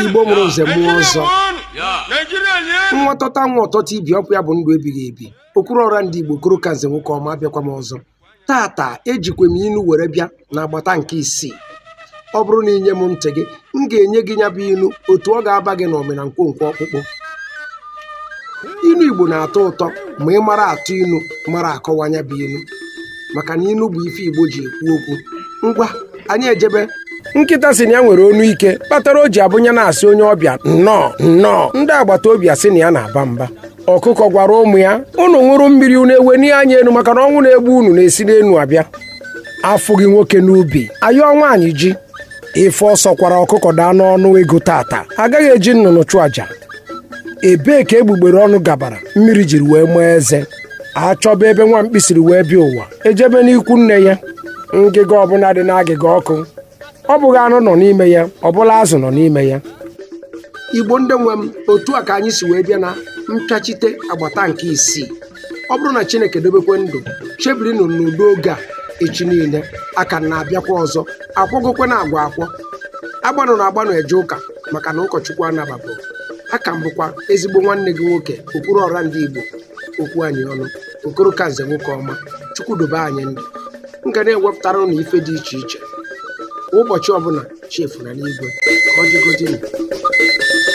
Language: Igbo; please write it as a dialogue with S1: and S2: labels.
S1: igbo mụrụ nze mụọ ọzọ nwa tọta nwa ọtọta ibi ọkụ ya bụ ndụ ebighị ebi okwuru ọra ndị igbo okoro ka nze nwoke ọma abịakwa m ọzọ taata ejikwa m inu were bịa na agbata nke isii ọ bụrụ na i nye m ntị gị m ga-enye gị nya bụ inu otu ọ ga-aba gị n'ụmị na nkwonkwo ọkpụkpụ inu igbo na-atọ ụtọ ma ị mara atụ inu mara akọwa nya bụ inu maka na inu bụ ife igbo ji ekwu okwu ngwa anyị ejebe nkịta sị na ya nwere onu ike kpatara o ji abụ nya na-asị onye ọbịa nnọọ nnọọ ndị agbata obi asị na ya na-aba mba ọkụkọ gwara ụmụ ya unu ṅụrụ mmiri unu ewenie anya enu maka na ọnwụ na-egbu unu na-esi n'enu abịa afụghị nwoke n'ubi a yọọ nwaanyị ji ife ọ sọkwara ọkụkọ daa n'ọnụ ego taata agaghị eji nnụnụ chụ aja ebee ka egbugbere ọnụ gabara mmiri jiri wee maa eze a chọba ebe nwa mkpi siri wee bịa ụwa e jebe n'ikwu nne ya ngịga ọbụna dị n'agịga ọkụ ọ bụghị anụ nọ n'ime ya ọ bụrụ azụ nọ n'ime ya igbo ndị nwe m otu a ka anyị si wee bịa na mpịachite agbata nke isii ọ bụrụ na chineke dobekwe ndụ chebiri ụnụ n'udo oge a echi niile a ka na-abịakwa ọzọ akwọgokwe na agwa akwọ agbanụna agbanụ eje ụka maka na ụkọchukwu anababụ aka m bụkwa ezigbo nwanne gị nwoke okwuru ọra ndị igbo okwu anyị ọnụ okoro ka nze nwoke ọma chukwu dobe anyị ndụ m ga na-ewepụtara ụnụ ife dị iche iche kwa ụbọchị ọbụna chefuna n'igwe ka ọ dịgodịnụ